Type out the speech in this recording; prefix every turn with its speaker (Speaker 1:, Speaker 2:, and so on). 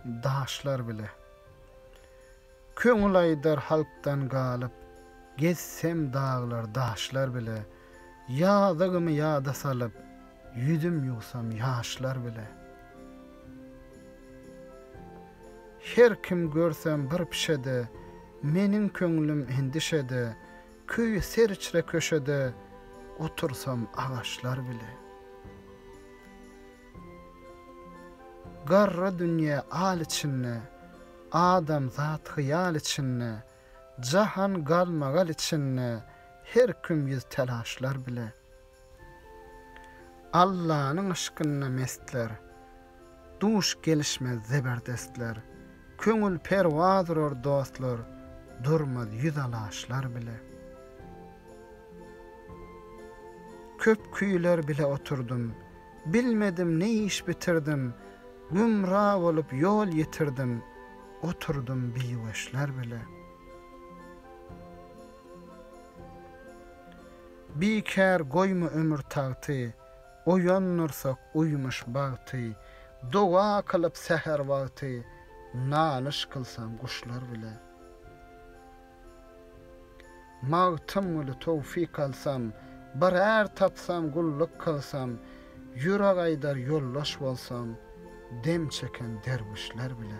Speaker 1: Daşlar bile. Köňül aýdar halkdan galyp, Gezsem daglar, daşlar bile. Ýazygymy ýada salyp, Ýüzüm ýuwsam ýaşlar bile. Her kim görsem bir pişede, Meniň köňlüm endişede, Köýe seriçre köşede otursam agaçlar bile. Garra dünýe al içinde, adamzat hyýal içinde, jahan galmagal içinde, her kim ýüz telaşlar bile. Allanyň yşkynda mestler. Duş gelişmez zeberdestler. Köňül perwaz urar dostlar. Durmaz ýüz alaşlar bile. Köp küýler bile oturdym. Bilmedim ne iş bitirdim. Gümra bolup ýol ýitirdim. Oturdym biweşler bile. Bikär goýma ömür tagty, Oýandyrsak uýmuş bagty. Doga kylyp säher wagty, Nalyş kylsam guşlar bile. Magtymguly Towfik alsam, Bir är tapsam gulluk kylsam, Ýürek aýdar ýoldaş bolsam, Dem çeken derwüşler bile.